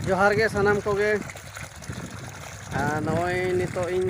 ᱡᱚᱦᱟᱨ ᱜᱮ ᱥᱟᱱᱟᱢ ᱠᱚᱜᱮ ᱟᱨ ᱱᱚᱜᱼᱚᱭ ᱱᱤᱛᱚᱜ ᱤᱧ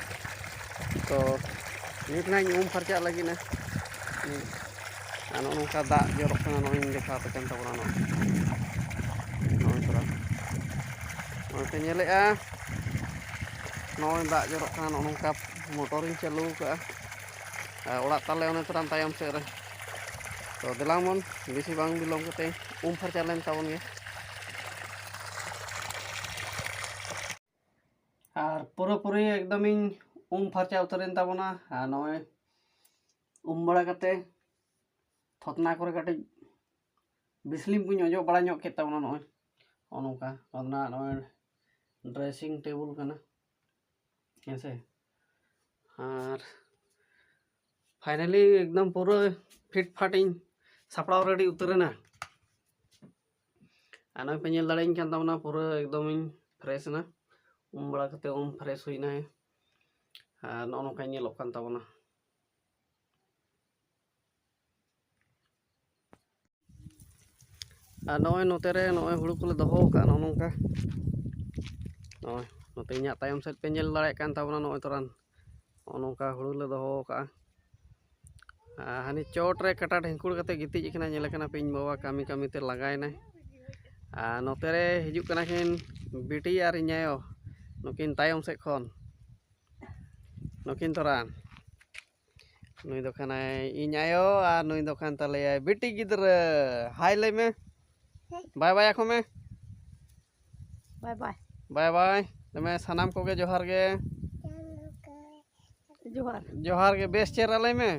ᱛᱚ ᱱᱤᱛ ᱱᱟᱧ ᱩᱢ ᱯᱷᱟᱨᱪᱟᱜ ᱞᱟᱹᱜᱤᱫ ᱱᱟ ᱟᱨ ᱱᱚᱜᱼᱚ ᱱᱚᱝᱠᱟ ᱫᱟᱜ ᱡᱚᱨᱚᱜ ᱠᱟᱱᱟ ᱱᱚᱜᱼᱚᱭ ᱫᱮᱠᱷᱟᱣ ᱟᱯᱮ ᱠᱟᱱ ᱛᱟᱵᱚᱱᱟ ᱱᱚᱜᱼᱚᱭ ᱱᱚᱜᱼᱚᱭ ᱛᱚᱨᱟ ᱱᱚᱜᱼᱚᱭ ᱯᱮ ᱧᱮᱞᱮᱫᱼᱟ ᱱᱚᱜᱼᱚᱭ ᱫᱟᱜ ᱡᱚᱨᱚᱜ ᱠᱟᱱᱟ ᱱᱚᱜᱼᱚ ᱱᱚᱝᱠᱟ ᱢᱚᱴᱚᱨᱤᱧ ᱪᱟᱹᱞᱩ ᱠᱟᱜᱼᱟ ᱟᱨ ᱚᱲᱟᱜ ᱛᱟᱞᱮ ᱚᱱᱮ ᱛᱚᱨᱟᱢ ᱛᱟᱭᱚᱢ ᱥᱮᱫ ᱨᱮ ᱛᱚ ᱫᱮᱞᱟᱝ ᱵᱚᱱ ᱵᱮᱥᱤ ᱵᱟᱝ ᱵᱤᱞᱚᱢ ᱠᱟᱛᱮ ᱩᱢ ᱯᱷᱟᱨᱪᱟ ᱞᱮᱱ ᱛᱟᱵᱚᱱ ᱜᱮ ᱟᱨ ᱯᱩᱨᱟᱹ ᱯᱩᱨᱤ ᱮᱠᱫᱚᱢᱤᱧ ᱩᱢ ᱯᱷᱟᱨᱪᱟ ᱩᱛᱟᱹᱨᱮᱱ ᱛᱟᱵᱚᱱᱟ ᱟᱨ ᱱᱚᱜᱼᱚᱭ ᱩᱢ ᱵᱟᱲᱟ ᱠᱟᱛᱮ ᱛᱷᱚᱛᱱᱟ ᱠᱚᱨᱮ ᱠᱟᱹᱴᱤᱡ ᱵᱤᱥᱞᱤᱢ ᱠᱚᱧ ᱚᱡᱚᱜ ᱵᱟᱲᱟ ᱧᱚᱜ ᱠᱮᱫ ᱛᱟᱵᱚᱱᱟ ᱱᱚᱜᱼᱚᱭ ᱱᱚᱜᱼᱚ ᱱᱚᱝᱠᱟ ᱚᱱᱟ ᱱᱚᱜᱼᱚᱭ ᱰᱨᱮᱥᱤᱝ ᱴᱮᱵᱩᱞ ᱠᱟᱱᱟ ᱦᱮᱸ ᱥᱮ ᱟᱨ ᱯᱷᱟᱭᱱᱟᱞᱤ ᱮᱠᱫᱚᱢ ᱯᱩᱨᱟᱹ ᱯᱷᱤᱴ ᱯᱷᱟᱴᱤᱧ ᱥᱟᱯᱲᱟᱣ ᱨᱮᱰᱤ ᱩᱛᱟᱹᱨᱮᱱᱟ ᱟᱨ ᱱᱚᱜᱼᱚᱭ ᱯᱮ ᱧᱮᱞ ᱫᱟᱲᱮᱭᱟᱹᱧ ᱠᱟᱱ ᱛᱟᱵᱚᱱᱟ ᱯᱩᱨᱟᱹ ᱮᱠᱫᱚᱢᱤᱧ ᱯᱷᱨᱮᱥ ᱮᱱᱟ ᱩᱢ ᱵᱟᱲᱟ ᱠᱟᱛᱮ ᱩᱢ ᱯᱷᱨᱮᱥ ᱦᱩᱭᱱᱟ ᱟᱨ ᱱᱚᱜᱼᱚ ᱱᱚᱝᱠᱟ ᱧᱮᱞᱚᱜ ᱠᱟᱱ ᱛᱟᱵᱚᱱᱟ ᱟᱨ ᱱᱚᱜᱼᱚᱭ ᱱᱚᱛᱮ ᱨᱮ ᱱᱚᱜᱼᱚᱭ ᱦᱩᱲᱩ ᱠᱚᱞᱮ ᱫᱚᱦᱚ ᱟᱠᱟᱫ ᱱᱚᱜᱼᱚ ᱱᱚᱝᱠᱟ ᱱᱚᱜᱼᱚᱭ ᱱᱚᱛᱮ ᱤᱧᱟᱹᱜ ᱛᱟᱭᱚᱢ ᱥᱮᱫ ᱯᱮ ᱧᱮᱞ ᱫᱟᱲᱮᱭᱟᱜ ᱠᱟᱱ ᱛᱟᱵᱚᱱᱟ ᱱᱚᱜᱼᱚᱭ ᱛᱚᱨᱟᱱ ᱱᱚᱜᱼᱚ ᱱᱚᱝᱠᱟ ᱦᱩᱲᱩ ᱞᱮ ᱫᱚᱦᱚ ᱠᱟᱜᱼᱟ ᱟᱨ ᱦᱟᱹᱱᱤ ᱪᱚᱴ ᱨᱮ ᱠᱟᱴᱟ ᱰᱷᱤᱝᱠᱩᱲ ᱠᱟᱛᱮ ᱜᱤᱛᱤᱡ ᱠᱟᱱᱟᱭ ᱧᱮᱞᱮ ᱠᱟᱱᱟ ᱯᱮ ᱤᱧ ᱵᱟᱵᱟ ᱠᱟᱹᱢᱤ ᱠᱟᱹᱢᱤ ᱛᱮ ᱞᱟᱸᱜᱟᱭᱮᱱᱟᱭ ᱟᱨ ᱱᱚᱛᱮ ᱨᱮ ᱦᱤᱡᱩᱜ ᱠᱟᱱᱟ ᱠᱤᱱ ᱵᱤᱴᱤ ᱟᱨ ᱤᱧ ᱟᱭᱳ ᱱᱩᱠᱤᱱ ᱛᱟᱭᱚᱢ ᱥᱮᱫ ᱠᱷᱚᱱ ᱱᱩᱠᱤᱱ ᱛᱚᱨᱟ ᱱᱩᱭ ᱫᱚ ᱠᱟᱱᱟᱭ ᱤᱧ ᱟᱭᱳ ᱟᱨ ᱱᱩᱭ ᱫᱚ ᱠᱟᱱ ᱛᱟᱞᱮᱭᱟᱭ ᱵᱤᱴᱤ ᱜᱤᱫᱽᱨᱟᱹ ᱦᱟᱭ ᱞᱟᱹᱭ ᱢᱮ ᱵᱟᱭ ᱵᱟᱭ ᱟᱠᱚ ᱢᱮ ᱵᱟᱭ ᱵᱟᱭ ᱵᱟᱭ ᱵᱟᱭ ᱫᱚᱢᱮ ᱥᱟᱱᱟᱢ ᱠᱚᱜᱮ ᱡᱚᱦᱟᱨ ᱜᱮ ᱡᱚᱦᱟᱨ ᱡᱚᱦᱟᱨ ᱜᱮ ᱵᱮᱥ ᱪᱮᱦᱨᱟ ᱞᱟᱹᱭ ᱢᱮ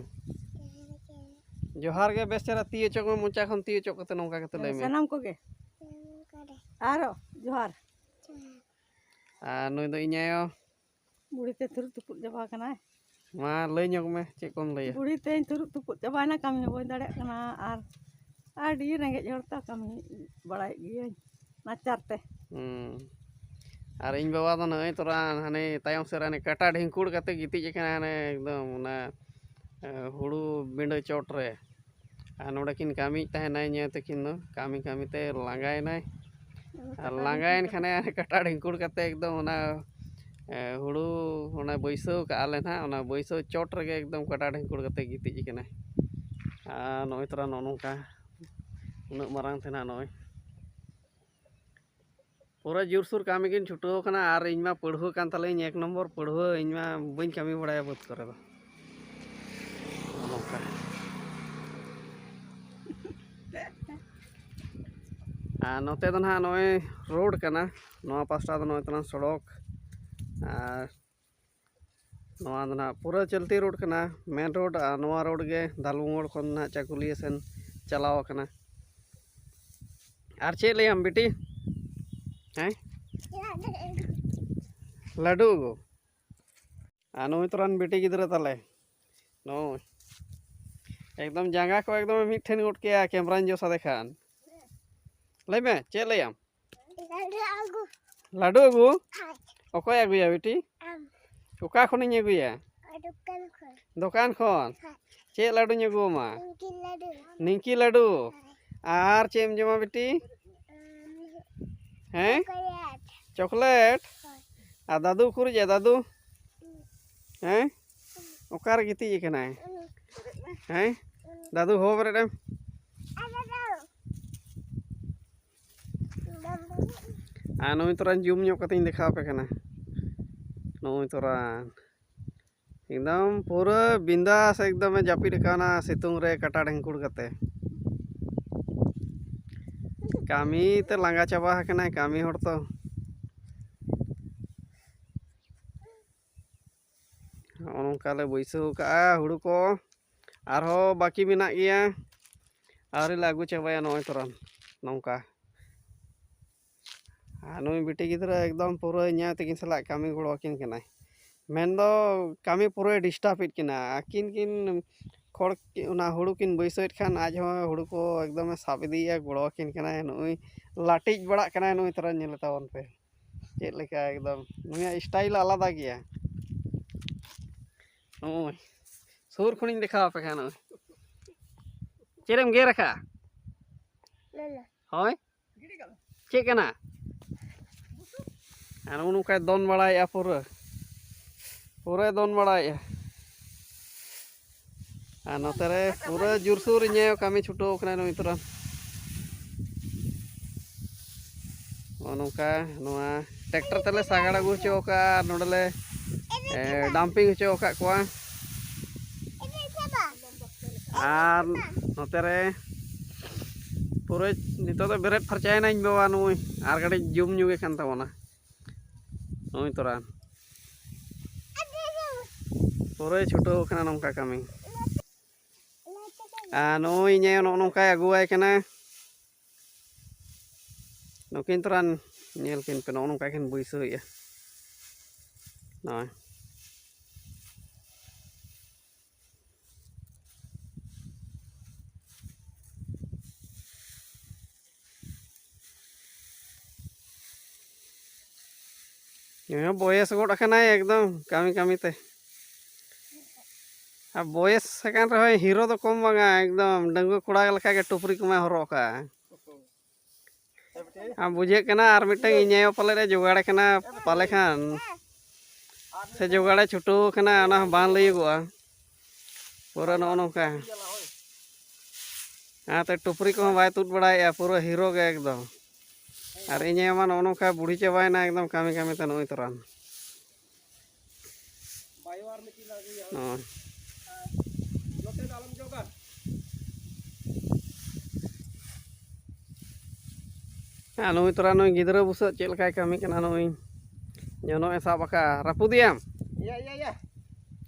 ᱡᱚᱦᱟᱨ ᱜᱮ ᱵᱮᱥ ᱪᱮᱦᱨᱟ ᱛᱤ ᱚᱪᱚᱜ ᱢᱮ ᱢᱚᱪᱟ ᱠᱷᱚᱱ ᱛᱤ ᱚᱪᱚᱜ ᱠᱟᱛᱮ ᱱᱚᱝᱠᱟ ᱠᱟᱛᱮ ᱞᱟᱹᱭ ᱢᱮ ᱥᱟᱱᱟᱢ ᱠᱚᱜᱮ ᱟᱨᱚ ᱡᱚᱦᱟᱨ ᱟᱨ ᱱᱩᱭ ᱫᱚ ᱤᱧ ᱟᱭᱳ ᱵᱩᱲᱦᱤ ᱛᱮ ᱛᱷᱩᱨᱩᱜ ᱛᱩᱯᱩᱫ ᱪᱟᱵᱟ ᱠᱟᱱᱟᱭ ᱢᱟ ᱞᱟᱹᱭ ᱧᱚᱜ ᱢᱮ ᱪᱮᱫ ᱠᱚᱢ ᱞᱟᱹᱭᱟ ᱵᱩᱲᱦᱤ ᱛᱮᱧ ᱛᱷᱩᱨᱩᱜ ᱛᱩᱯᱩᱫ ᱪᱟᱵᱟᱭᱮᱱᱟ ᱠᱟᱹᱢᱤ ᱦᱚᱸ ᱵᱟᱹᱧ ᱫᱟᱲᱮᱭᱟᱜ ᱠᱟᱱᱟ ᱟᱨ ᱟᱹᱰᱤ ᱨᱮᱸᱜᱮᱡ ᱦᱚᱲ ᱛᱚ ᱠᱟᱹᱢᱤ ᱵᱟᱲᱟᱭᱮᱫ ᱜᱤᱭᱟᱹᱧ ᱱᱟᱪᱟᱨ ᱛᱮ ᱦᱩᱸ ᱟᱨ ᱤᱧ ᱵᱟᱵᱟ ᱫᱚ ᱱᱚᱜᱼᱚᱭ ᱛᱚᱨᱟ ᱦᱟᱱᱮ ᱛᱟᱭᱚᱢ ᱥᱮᱫ ᱨᱮ ᱦᱟᱱᱮ ᱠᱟᱴᱟ ᱰᱷᱤᱝᱠᱩᱲ ᱠᱟᱛᱮ ᱜᱤᱛᱤᱡ ᱟᱠᱟᱱᱟ ᱦᱟᱱᱮ ᱮᱠᱫᱚᱢ ᱚᱱᱟ ᱦᱩᱲᱩ ᱵᱤᱸᱰᱟᱹ ᱪᱚᱴ ᱨᱮ ᱟᱨ ᱱᱚᱰᱮ ᱠᱤᱱ ᱠᱟᱹᱢᱤᱭᱮᱫ ᱛᱟᱦᱮᱱᱟ ᱤᱧ ᱛᱟᱹᱠᱤᱱ ᱫᱚ ᱠᱟᱹᱢᱤ ᱠᱟᱹᱢᱤ ᱛᱮ ᱞᱟᱸᱜᱟᱭᱮᱱᱟᱭ ᱟᱨ ᱞᱟᱸᱜᱟᱭᱮᱱ ᱠᱷᱟᱱᱮ ᱠᱟᱴᱟ ᱰᱷᱤᱝᱠᱩᱲ ᱠᱟᱛᱮ ᱮᱠᱫᱚᱢ ᱚᱱᱟ ᱦᱳᱲᱳ ᱚᱱᱟ ᱵᱟᱹᱭᱥᱟᱹᱣ ᱠᱟᱜᱼᱟ ᱞᱮ ᱦᱟᱸᱜ ᱚᱱᱟ ᱵᱟᱹᱭᱥᱟᱹᱣ ᱪᱚᱴ ᱨᱮᱜᱮ ᱮᱠᱫᱚᱢ ᱠᱟᱴᱟ ᱰᱷᱤᱝᱠᱩᱲ ᱠᱟᱛᱮ ᱜᱤᱛᱤᱡ ᱠᱟᱱᱟᱭ ᱟᱨ ᱱᱚᱜᱼᱚᱭ ᱛᱚᱨᱟ ᱱᱚᱜᱼᱚ ᱱᱚᱝᱠᱟ ᱩᱱᱟᱹᱜ ᱢᱟᱨᱟᱝ ᱛᱮ ᱦᱟᱸᱜ ᱱᱚᱜᱼᱚᱭ ᱯᱩᱨᱟᱹ ᱡᱳᱨᱥᱳᱨ ᱠᱟᱹᱢᱤ ᱜᱤᱧ ᱪᱷᱩᱴᱟᱹᱣ ᱠᱟᱱᱟ ᱟᱨ ᱤᱧ ᱢᱟ ᱯᱟᱹᱲᱦᱟᱹ ᱠᱟᱱ ᱛᱟᱞᱮᱭᱟᱹᱧ ᱮᱠ ᱱᱚᱢᱵᱚᱨ ᱯᱟᱹᱲᱦᱟᱹ ᱤᱧ ᱢᱟ ᱵᱟᱹᱧ ᱠᱟᱹᱢᱤ ᱵᱟᱲᱟᱭᱟ ᱵᱟᱹᱫᱽ ᱠᱚᱨᱮ ᱫᱚ ᱱᱚᱝᱠᱟ ᱟᱨ ᱱᱚᱛᱮ ᱫᱚ ᱱᱟᱦᱟᱜ ᱱᱚᱜᱼᱚᱭ ᱨᱳᱰ ᱠᱟᱱᱟ ᱱᱚᱣᱟ ᱯᱟᱥᱴᱟ ᱫᱚ ᱱᱚᱜᱼᱚᱭ ᱛᱟᱞᱟᱝ ᱥᱚᱲᱚᱠ ᱟᱨ ᱱᱚᱣᱟ ᱫᱚ ᱱᱟᱦᱟᱜ ᱯᱩᱨᱟᱹ ᱪᱚᱞᱛᱤ ᱨᱳᱰ ᱠᱟᱱᱟ ᱢᱮᱱ ᱨᱳᱰ ᱟᱨ ᱱᱚᱣᱟ ᱨᱳᱰ ᱜᱮ ᱫᱟᱞᱵᱩ ᱢᱳᱲ ᱠᱷᱚᱱ ᱱᱟᱦᱟᱜ ᱪᱟᱹᱠᱩᱞᱤᱭᱟᱹ ᱥᱮᱱ ᱪᱟᱞᱟᱣ ᱟᱠᱟᱱᱟ ᱟᱨ ᱪᱮᱫ ᱞᱟᱹᱭᱟᱢ ᱵᱤᱴᱤ ᱦᱮᱸ ᱞᱟᱹᱰᱩ ᱟᱹᱜᱩ ᱟᱨ ᱱᱩᱭ ᱛᱚᱨᱟᱱ ᱵᱤᱴᱤ ᱜᱤᱫᱽᱨᱟᱹ ᱛᱟᱞᱮ ᱱᱩᱭ ᱮᱠᱫᱚᱢ ᱡᱟᱸᱜᱟ ᱠᱚ ᱮᱠᱫᱚᱢ ᱢᱤᱫ ᱴᱷᱮᱱ ᱜᱚᱫ ᱠᱮᱜᱼᱟ ᱠᱮᱢᱨᱟᱧ ᱡᱚᱥ ᱟᱫᱮ ᱠᱷᱟᱱ ᱞᱟᱹᱭ ᱢᱮ ᱪᱮᱫ ᱞᱟᱹᱭᱟᱢ ᱞᱟᱹᱰᱩ ᱟᱹᱜᱩ ᱚᱠᱚᱭ ᱟᱹᱜᱩᱭᱟ ᱵᱤᱴᱤ ᱚᱠᱟ ᱠᱷᱚᱱᱤᱧ ᱟᱹᱜᱩᱭᱟ ᱫᱚᱠᱟᱱ ᱠᱷᱚᱱ ᱪᱮᱫ ᱞᱟᱹᱰᱩᱧ ᱟᱹᱜᱩ ᱟᱢᱟ ᱱᱤᱝᱠᱤ ᱞᱟᱹᱰᱩ ᱟᱨ ᱪᱮᱫ ᱮᱢ ᱡᱚᱢᱟ ᱵᱤᱴᱤ ᱦᱮᱸ ᱪᱚᱠᱞᱮᱴ ᱟᱨ ᱫᱟᱫᱩ ᱩᱠᱩᱨᱤᱡ ᱫᱟᱫᱩ ᱦᱮᱸ ᱚᱠᱟᱨᱮ ᱜᱤᱛᱤᱡ ᱟᱠᱟᱱᱟᱭ ᱦᱮᱸ ᱫᱟᱫᱩ ᱦᱚᱦᱚ ᱵᱮᱨᱮᱫ ᱮᱢ ᱟᱨ ᱱᱚᱜᱼᱚᱭ ᱛᱚᱨᱟᱧ ᱡᱩᱢ ᱧᱚᱜ ᱠᱟᱛᱮᱧ ᱫᱮᱠᱷᱟᱣ ᱟᱯᱮ ᱠᱟᱱᱟ ᱱᱚᱜᱼᱚᱭ ᱛᱚᱨᱟ ᱮᱠᱫᱚᱢ ᱯᱩᱨᱟᱹ ᱵᱤᱱᱫᱟᱥ ᱮᱠᱫᱚᱢᱮ ᱡᱟᱹᱯᱤᱫ ᱟᱠᱟᱱᱟ ᱥᱤᱛᱩᱝ ᱨᱮ ᱠᱟᱴᱟ ᱰᱷᱮᱝᱠᱩᱲ ᱠᱟᱛᱮ ᱠᱟᱹᱢᱤ ᱛᱮ ᱞᱟᱸᱜᱟ ᱪᱟᱵᱟ ᱟᱠᱟᱱᱟᱭ ᱠᱟᱹᱢᱤ ᱦᱚᱲ ᱛᱚ ᱱᱚᱜᱼᱚ ᱱᱚᱝᱠᱟ ᱞᱮ ᱵᱟᱹᱭᱥᱟᱹᱣ ᱠᱟᱜᱼᱟ ᱦᱩᱲᱩ ᱠᱚ ᱟᱨᱦᱚᱸ ᱵᱟᱹᱠᱤ ᱢᱮᱱᱟᱜ ᱜᱮᱭᱟ ᱟᱹᱣᱨᱤ ᱞᱮ ᱟᱹᱜᱩ ᱪᱟᱵᱟᱭᱟ ᱱᱚᱜᱼᱚᱭ ᱛᱚᱨᱟᱱ ᱱᱚᱝᱠᱟ ᱟᱨ ᱱᱩᱭ ᱵᱤᱴᱤ ᱜᱤᱫᱽᱨᱟᱹ ᱮᱠᱫᱚᱢ ᱯᱩᱨᱟᱹ ᱤᱧᱟᱹ ᱛᱤᱠᱤᱱ ᱥᱟᱞᱟᱜ ᱠᱟᱹᱢᱤ ᱜᱚᱲᱚ ᱟᱹᱠᱤᱱ ᱠᱟᱱᱟᱭ ᱢᱮᱱᱫᱚ ᱠᱟᱹᱢᱤ ᱯᱩᱨᱟᱹᱭ ᱰᱤᱥᱴᱟᱵᱮᱫ ᱠᱤᱱᱟ ᱟᱹᱠᱤᱱ ᱠᱤᱱ ᱠᱷᱚᱲ ᱚᱱᱟ ᱦᱩᱲᱩ ᱠᱤᱱ ᱵᱟᱹᱭᱥᱟᱹᱣᱮᱫ ᱠᱷᱟᱱ ᱟᱡ ᱦᱚᱸ ᱦᱩᱲᱩ ᱠᱚ ᱮᱠᱫᱚᱢᱮ ᱥᱟᱵ ᱤᱫᱤᱭᱮᱫᱼᱟ ᱜᱚᱲᱚ ᱟᱹᱠᱤᱱ ᱠᱟᱱᱟᱭ ᱱᱩᱜᱼᱩᱭ ᱞᱟᱴᱤᱡ ᱵᱟᱲᱟᱜ ᱠᱟᱱᱟᱭ ᱱᱩᱭ ᱛᱚᱨᱟ ᱧᱮᱞᱮ ᱛᱟᱵᱚᱱ ᱯᱮ ᱪᱮᱫ ᱞᱮᱠᱟ ᱮᱠᱫᱚᱢ ᱱᱩᱭᱟᱜ ᱥᱴᱟᱭᱤᱞ ᱟᱞᱟᱫᱟ ᱜᱮᱭᱟ ᱱᱚᱜᱼᱚᱭ ᱥᱩᱨ ᱠᱷᱚᱱᱤᱧ ᱫᱮᱠᱷᱟᱣ ᱟᱯᱮ ᱠᱟᱱᱟ ᱱᱚᱜᱼᱚᱭ ᱪᱮᱫ ᱮᱢ ᱜᱮᱨ ᱟᱠᱟᱜᱼᱟ ᱦᱳᱭ ᱪᱮᱫ ᱠᱟᱱᱟ ᱟᱨ ᱱᱚᱜᱼᱚ ᱱᱚᱝᱠᱟᱭ ᱫᱚᱱ ᱵᱟᱲᱟᱭᱮᱫᱼᱟ ᱯᱩᱨᱟᱹ ᱯᱩᱨᱟᱹᱭ ᱫᱚᱱ ᱵᱟᱲᱟᱭᱮᱫᱼᱟ ᱟᱨ ᱱᱚᱛᱮ ᱨᱮ ᱯᱩᱨᱟᱹ ᱡᱳᱨᱥᱳᱨ ᱤᱧᱮ ᱠᱟᱹᱢᱤ ᱪᱷᱩᱴᱟᱹᱣ ᱠᱟᱱᱟ ᱱᱩᱭ ᱛᱚᱨᱟ ᱱᱚᱜᱼᱚ ᱱᱚᱝᱠᱟ ᱱᱚᱣᱟ ᱴᱨᱟᱠᱴᱟᱨ ᱛᱮᱞᱮ ᱥᱟᱜᱟᱲ ᱟᱹᱜᱩ ᱦᱚᱪᱚ ᱟᱠᱟᱫᱼᱟ ᱟᱨ ᱱᱚᱰᱮᱞᱮ ᱰᱟᱢᱯᱤᱝ ᱦᱚᱪᱚ ᱟᱠᱟᱫ ᱠᱚᱣᱟ ᱟᱨ ᱱᱚᱛᱮ ᱨᱮ ᱯᱩᱨᱟᱹ ᱱᱤᱛᱚᱜ ᱫᱚ ᱵᱮᱨᱮᱫ ᱯᱷᱟᱨᱪᱟᱭᱮᱱᱟ ᱤᱧ ᱵᱟᱵᱟ ᱱᱩᱭ ᱟᱨ ᱠᱟᱹᱴᱤᱡ ᱡᱩᱢ ᱧᱚᱜᱮ ᱠᱟᱱ ᱛᱟᱵᱚᱱᱟ ᱱᱚᱜᱼᱚᱭ ᱛᱚᱨᱟ ᱯᱩᱨᱟᱹᱭ ᱪᱷᱩᱴᱟᱹᱣ ᱠᱟᱱᱟ ᱱᱚᱝᱠᱟ ᱠᱟᱹᱢᱤ ᱟᱨ ᱱᱚᱜᱼᱚᱭ ᱤᱧᱮ ᱱᱚᱜᱼᱚ ᱱᱚᱝᱠᱟᱭ ᱟᱹᱜᱩᱣᱟᱭ ᱠᱟᱱᱟ ᱱᱩᱠᱤᱱ ᱛᱚᱨᱟ ᱧᱮᱞ ᱠᱤᱱ ᱯᱮ ᱱᱚᱜᱼᱚ ᱱᱚᱝᱠᱟ ᱠᱤᱱ ᱵᱟᱹᱭᱥᱟᱹᱣᱮᱜᱼᱟ ᱱᱚᱜᱼᱚᱭ ᱱᱩᱭ ᱵᱚᱭᱮᱥ ᱜᱚᱫ ᱟᱠᱟᱱᱟᱭ ᱮᱠᱫᱚᱢ ᱠᱟᱹᱢᱤ ᱠᱟᱹᱢᱤ ᱛᱮ ᱟᱨ ᱵᱚᱭᱮᱥ ᱟᱠᱟᱱ ᱨᱮᱦᱚᱸ ᱦᱤᱨᱳ ᱫᱚ ᱠᱚᱢ ᱵᱟᱝᱟ ᱮᱠᱫᱚᱢ ᱰᱟᱺᱜᱩᱣᱟᱹ ᱠᱚᱲᱟ ᱞᱮᱠᱟᱜᱮ ᱴᱩᱯᱨᱤ ᱠᱚᱢᱟᱭ ᱦᱚᱨᱚᱜ ᱠᱟᱜᱼᱟ ᱟᱨ ᱵᱩᱡᱷᱟᱹᱜ ᱠᱟᱱᱟ ᱟᱨ ᱢᱤᱫᱴᱟᱝ ᱤᱧ ᱟᱭᱳ ᱯᱟᱞᱮᱫ ᱮ ᱡᱚᱜᱟᱲᱮ ᱠᱟᱱᱟ ᱯᱟᱞᱮ ᱠᱷᱟᱱ ᱥᱮ ᱡᱚᱜᱟᱲᱮ ᱪᱷᱩᱴᱟᱹᱣ ᱠᱟᱱᱟ ᱚᱱᱟ ᱦᱚᱸ ᱵᱟᱝ ᱞᱟᱹᱭᱟᱹᱜᱚᱜᱼᱟ ᱯᱩᱨᱟᱹ ᱱᱚᱜᱼᱚ ᱱᱚᱝᱠᱟ ᱚᱱᱟᱛᱮ ᱴᱩᱯᱨᱤ ᱠᱚᱦᱚᱸ ᱵᱟᱭ ᱛᱩᱫ ᱵᱟᱲᱟᱭᱮᱫᱼᱟ ᱯᱩᱨᱟᱹ ᱦᱤᱨᱳ ᱜᱮ ᱮᱠᱫᱚᱢ ᱟᱨ ᱤᱧ ᱟᱭᱳ ᱢᱟ ᱱᱚᱜᱼᱚ ᱱᱚᱝᱠᱟ ᱵᱩᱲᱦᱤ ᱪᱟᱵᱟᱭᱮᱱᱟ ᱮᱠᱫᱚᱢ ᱠᱟᱹᱢᱤ ᱠᱟᱹᱢᱤᱛᱮ ᱱᱚᱜᱼᱚᱭ ᱛᱚᱨᱟᱱ ᱦᱮᱸ ᱱᱩᱭ ᱛᱚᱨᱟ ᱱᱩᱭ ᱜᱤᱫᱽᱨᱟᱹ ᱵᱩᱥᱟᱹᱜ ᱪᱮᱫ ᱞᱮᱠᱟᱭ ᱠᱟᱹᱢᱤ ᱠᱟᱱᱟ ᱱᱩᱭ ᱡᱚᱱᱚᱜ ᱮ ᱥᱟᱵ ᱟᱠᱟᱫᱼᱟ ᱨᱟᱹᱯᱩᱫᱮᱭᱟᱢ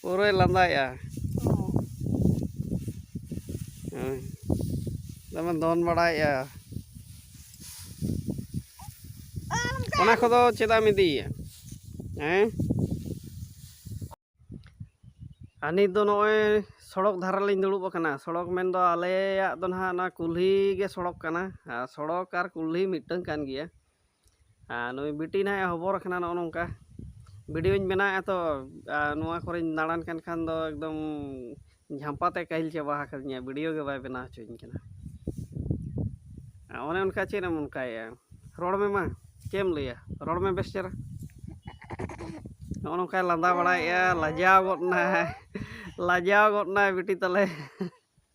ᱯᱩᱨᱟᱹᱭ ᱞᱟᱸᱫᱟᱭᱮᱜᱼᱟ ᱦᱳᱭ ᱫᱚᱢᱮ ᱫᱚᱱ ᱵᱟᱲᱟᱭᱮᱜᱼᱟ ᱚᱱᱟ ᱠᱚᱫᱚ ᱪᱮᱫᱟᱜ ᱮᱢ ᱤᱫᱤᱭᱮᱭᱟ ᱦᱮᱸ ᱟᱨ ᱱᱤᱛ ᱫᱚ ᱱᱚᱜᱼᱚᱭ ᱥᱚᱲᱚᱠ ᱫᱷᱟᱨᱟ ᱞᱤᱧ ᱫᱩᱲᱩᱵ ᱟᱠᱟᱱᱟ ᱥᱚᱲᱚᱠ ᱢᱮᱱᱫᱚ ᱟᱞᱮᱭᱟᱜ ᱫᱚ ᱱᱟᱦᱟᱜ ᱚᱱᱟ ᱠᱩᱞᱦᱤ ᱜᱮ ᱥᱚᱲᱚᱠ ᱠᱟᱱᱟ ᱟᱨ ᱥᱚᱲᱚᱠ ᱟᱨ ᱠᱩᱞᱦᱤ ᱢᱤᱫᱴᱟᱹᱝ ᱠᱟᱱ ᱜᱮᱭᱟ ᱟᱨ ᱱᱩᱭ ᱵᱤᱴᱤ ᱱᱟᱦᱟᱜ ᱮ ᱦᱚᱵᱚᱨ ᱟᱠᱟᱱᱟ ᱱᱚᱜᱼᱚ ᱱᱚᱝᱠᱟ ᱵᱷᱤᱰᱤᱭᱳᱧ ᱵᱮᱱᱟᱣᱮᱫᱼᱟ ᱛᱚ ᱟᱨ ᱱᱚᱣᱟ ᱠᱚᱨᱮᱧ ᱫᱟᱬᱟᱱ ᱠᱟᱱ ᱠᱷᱟᱱ ᱫᱚ ᱮᱠᱫᱚᱢ ᱡᱷᱟᱢᱯᱟ ᱛᱮ ᱠᱟᱹᱦᱤᱞ ᱪᱟᱵᱟ ᱟᱠᱟᱫᱤᱧᱟ ᱵᱷᱤᱰᱤᱭᱳ ᱜᱮ ᱵᱟᱭ ᱵᱮᱱᱟᱣ ᱦᱚᱪᱚᱣᱟᱹᱧ ᱠᱟᱱᱟ ᱚᱱᱮ ᱚᱱᱠᱟ ᱪᱮᱫ ᱮᱢ ᱚᱱᱠᱟᱭᱮᱫᱼᱟ ᱨᱚᱲ ᱢᱮ ᱢᱟ ᱪᱮᱫ ᱮᱢ ᱞᱟᱹᱭᱟ ᱨᱚᱲ ᱢᱮ ᱵᱮᱥ ᱪᱮᱦᱨᱟ ᱱᱚᱜᱼᱚ ᱱᱚᱝᱠᱟᱭ ᱞᱟᱸᱫᱟ ᱵᱟᱲᱟᱭᱮᱫᱼᱟ ᱞᱟᱡᱟᱣ ᱜᱚᱫ ᱮᱱᱟᱭ ᱞᱟᱡᱟᱣ ᱜᱚᱫ ᱮᱱᱟᱭ ᱵᱤᱴᱤ ᱛᱟᱞᱮ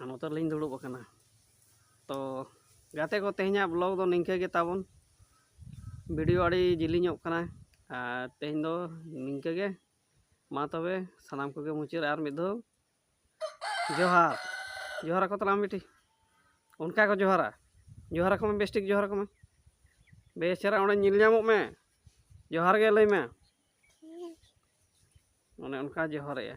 ᱟᱨ ᱱᱚᱛᱮ ᱨᱮᱞᱤᱧ ᱫᱩᱲᱩᱵ ᱟᱠᱟᱱᱟ ᱛᱚ ᱜᱟᱛᱮ ᱠᱚ ᱛᱮᱦᱮᱧᱟᱜ ᱵᱞᱚᱜ ᱫᱚ ᱱᱤᱝᱠᱟᱹ ᱜᱮ ᱛᱟᱵᱚᱱ ᱵᱷᱤᱰᱤᱭᱳ ᱟᱹᱰᱤ ᱡᱤᱞᱤᱧᱚᱜ ᱠᱟᱱᱟ ᱟᱨ ᱛᱮᱦᱮᱧ ᱫᱚ ᱱᱤᱝᱠᱟᱹ ᱜᱮ ᱢᱟ ᱛᱚᱵᱮ ᱥᱟᱱᱟᱢ ᱠᱚᱜᱮ ᱢᱩᱪᱟᱹᱫ ᱟᱨ ᱢᱤᱫ ᱫᱷᱟᱣ ᱡᱚᱦᱟᱨ ᱡᱚᱦᱟᱨ ᱟᱠᱚ ᱛᱟᱞᱟᱝ ᱵᱤᱴᱤ ᱚᱱᱠᱟ ᱠᱚ ᱡᱚᱦᱟᱨᱟ ᱡᱚᱦᱟᱨ ᱟᱠᱚ ᱢᱮ ᱵᱮᱥ ᱴᱷᱤᱠ ᱡᱚᱦᱟᱨ ᱟᱠᱚ ᱢᱮ ᱵᱮᱥ ᱪᱮᱦᱨᱟ ᱚᱸᱰᱮ ᱧᱮᱞ ᱧᱟᱢᱚᱜ ᱢᱮ ᱡᱚᱦᱟᱨ ᱜᱮ ᱞᱟᱹᱭ ᱢᱮ ᱚᱱᱮ ᱚᱱᱠᱟ ᱡᱚᱦᱟᱨᱮᱜᱼᱟ